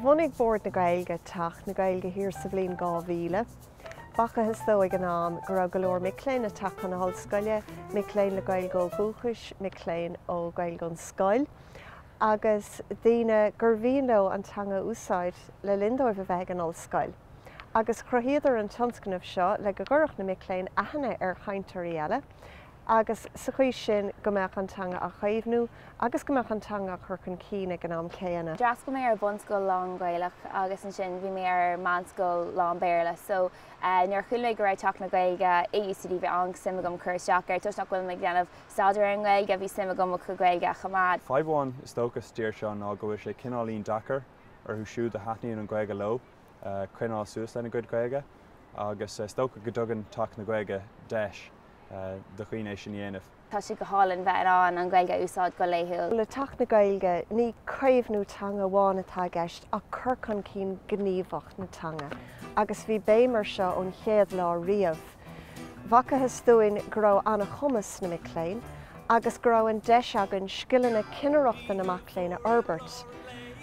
Bhunaigh Bord na Gaeilge Teach na Gaeilge thiar sa bhliain 2000. B'fhacthas dóibh ag an am go raibh go leor mic léinn ag teacht chun na hollscoile, mic léinn le Gaeilge ó dhúchais, mic léinn le Gaeilge ón scoil, agus daoine gur mhian leo an teanga a úsáid le linn dóibh a bheith ag an ollscoil. agus cruthaíodh an tionscnamh seo le go gcuirfeadh na mic léinn aithne ar chainteoirí eile agus sa chaoi sin go mbeadh an teanga á caomhnú agus go mbeadh an teanga á cur chun cinn ag an am céanna. D'fhreastail mé ar bhunscoil lán-Ghaelach agus ansin bhí mé ar mheánscoil lán-Béarla so nuair a chuala mé go raibh Teach na Gaeilge i UCD bhí an-suim agam cur isteach air. Toisc nach bhfuil mé ag déanamh staidéar ar an nGaeilge bhí suim agam mo Ghaeilge a choimeád. Fadhb amháin is dócha sa dtír seo ná go bhfuil sé cineáilín deacair orthu siúd a thaitníonn an Ghaeilge leo. coinneáil suas lena gcuid Gaeilge agus is dócha go dtugann Teach na Gaeilge deis do dhaoine é sin a dhéanamh. Tá sé go hálainn bheith in ann an Ghaeilge a úsáid go laethúil. Le Teach na Gaeilge, ní caomhnú teanga amháin atá i gceist ach cur chun cinn gníomhach na teanga agus bhí béim air seo ón chéad lá riamh. B'fhacthas dúinn go raibh an-chumas sna mic léinn agus go raibh an deis againn scileanna cinnireachta na mac léinn a fhorbairt.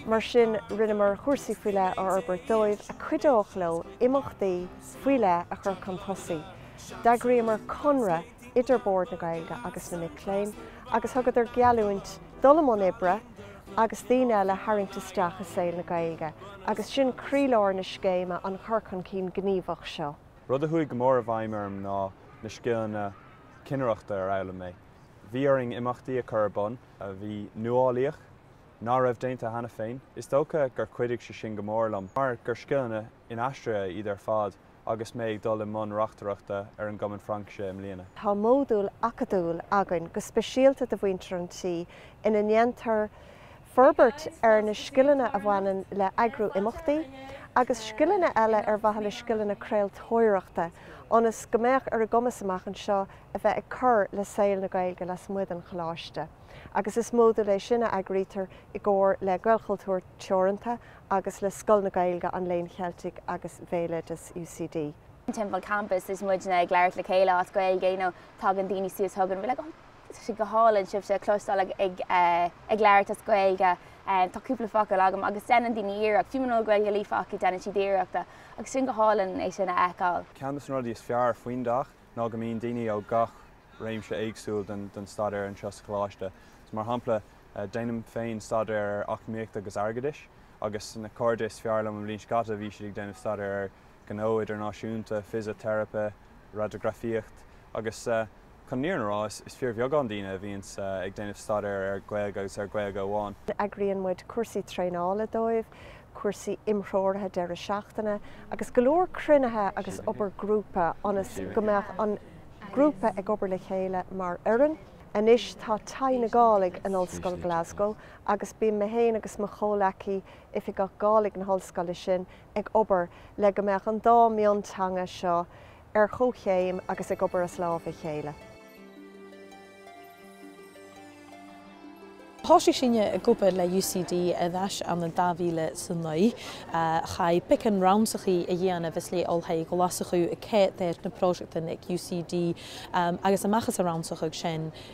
Mar sin rinneamar cúrsaí faoi leith a fhorbairt dóibh a chuideodh leo imeachtaí faoi leith a chur chun tosaigh. D'eagraíomar conradh idir Bord na Gaeilge agus na mic léinn agus thugadar geallúint dul i mbun oibre agus daoine eile a tharraingt isteach i saol na Gaeilge agus sin croílár na scéime, an cur chun cinn gníomhach seo. Rud a chuaigh go mór i bhfeidhm orm ná na scileanna cinnireachta a d'fhoghlaim mé. Bhí orainn imeachtaí a chur ar bun a bhí nuálaíoch, ná raibh déanta cheana féin. Is dócha gur chuidigh sé sin go mór liom mar gur scileanna inaistrithe iad ar fad agus mé ag dul i mbun reachtaireachta ar an gCumann Fraincise i mbliana. Tá modúl acadúil againn go speisialta do mhuintir an tí ina ndéantar forbairt ar na scileanna a bhaineann le heagrú imeachtaí agus scileanna eile ar mhaithe le scileanna craoltóireachta ionas go mbeadh ar a gcumas amach anseo a bheith ag cur le saol na Gaeilge lasmuigh den choláiste agus is modúl é sin a eagraítear i gcomhar le Gaelchultúr Teoranta agus le Scoil na Gaeilge, an Léinn Cheiltigh agus Bhéaloideas UCD. timpeall campas is muidne ag labhairt le chéile as Gaeilge you know tagann daoine suas chugainn we're like oh Tá sé go hálainn sibhse a chloisteáil ag labhairt as Gaeilge. Tá cúpla focal agam agus deineann daoine iarracht, fiú muna bhfuil Gaeilge líofa acu deineann siad iarracht agus sin go hálainn é sin a fheiceáil. Ceann dos na rudaí is fearr faoin dteach ná go mbíonn daoine ó gach réimse éagsúil den staidéar anseo sa choláiste. So mar shampla déanaim féin staidéar ar eacnamaíocht agus airgeadas agus na cairde is fearr liom i mbliain a haon bhí siad ag déanamh staidéar ar gnó idirnáisiúnta, fisiteiripe, raideografaíocht agus chun an fhírinne a rá, is fíorbheagán daoine a bhíonns ag déanamh staidéar ar Ghaeilge agus ar Ghaeilge amháin. Eagraíonn muid cúrsaí traenála dóibh, cúrsaí imthreoraithe deireadh seachtaine agus go leor cruinnithe agus obair grúpa ionas go mbeadh an grúpa ag obair le chéile mar fhoireann. Anois tá Taigh na Gàidhlig in Ollscoil Glasgow agus bíonn mé féin agus mo chomhleacaí, Oifigeach Gàidhlig na hollscoile sin, ag obair le go mbeadh an dá mionteanga seo ar chomhchéim agus ag obair as lámh a chéile. Thòisich sinne ag obair le UCD air ais ann an 2009. Chaidh beagan rannsachaidh a dhèanamh le Oilthigh Ghlaschu air na pròiseactan aig UCD agus a-mach às an rannsachadh sin.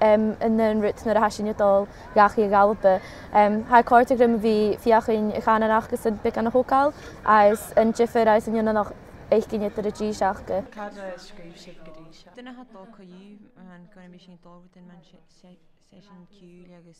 an aon rud nuair a tha sinne a' dol dhachaigh a dh'Alba tha còrdadh rium a bhith feuchainn a' chànan aca 's am beagan a thogail às an diofar is a' dèanamh nach èiginn idir a dtí seo aca Cad a scríobh sibh go dtí seo? Duine atá ag dul chucu, an gcuirimís aon dul within man seisean ciúil agus.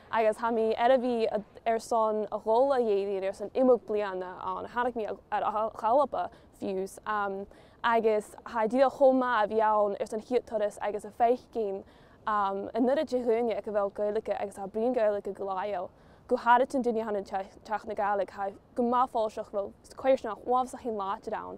agus tá mé ar a bhí ar son a dhul a éirí ar son imeacht bliana ann a tháinig mé ar a dhálba fiú's agus tá díol chomh maith a bhí ann ar son chéad turas agus a feadh cinn i nDoire de dhuine ag a bhfuil Gaeilge agus a oibríonn Gaeilge go láiáil go háirid an duine ann teach na Gaeilge tá go maith fáilteach bhfuil coisir sin ámh sa chéad láidir ann.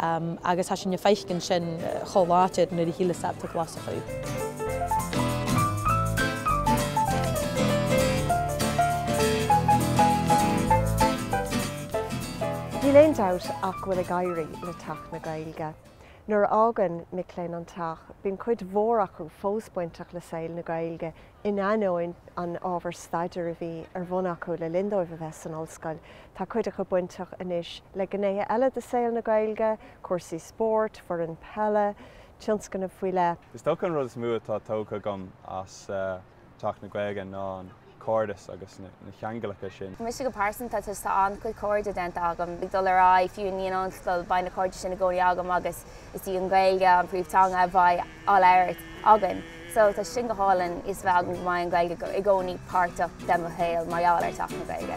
Agus tha sinn a' faicinn sin cho làidir na dhèidh ann an Glaschu. Níl aon dabht ach bhfuil ag éirí le Teach na Gaeilge. Nuair a fhágann mic léinn an Teach, bíonn cuid mhór acu fós bainteach le saol na Gaeilge In ainneoin an ábhar staidéir a bhí ar bhun acu le linn dóibh a bheith san ollscoil, tá cuid acu bainteach anois le gnéithe eile de shaol na Gaeilge, cúrsaí spóirt, foireann peile, tionscnaimh faoi leith. Is dócha an rud is mó atá tógtha agam as Teach na Gaeilge ná an cairdeas agus na ceanglacha sin. Mise go pearsanta, tá an-chuid cairde déanta agam ag dul ar aghaidh fiú i ndiaidh an ollscoil, beidh na cairde sin i gcónaí agam agus is í an Ghaeilge an príomhtheanga a bheidh á labhairt againn. So tá sin go hálainn fios a bheith agam go mbeidh an Ghaeilge i gcónaí páirteach de mo shaol mar gheall ar Teach na Gaeilge.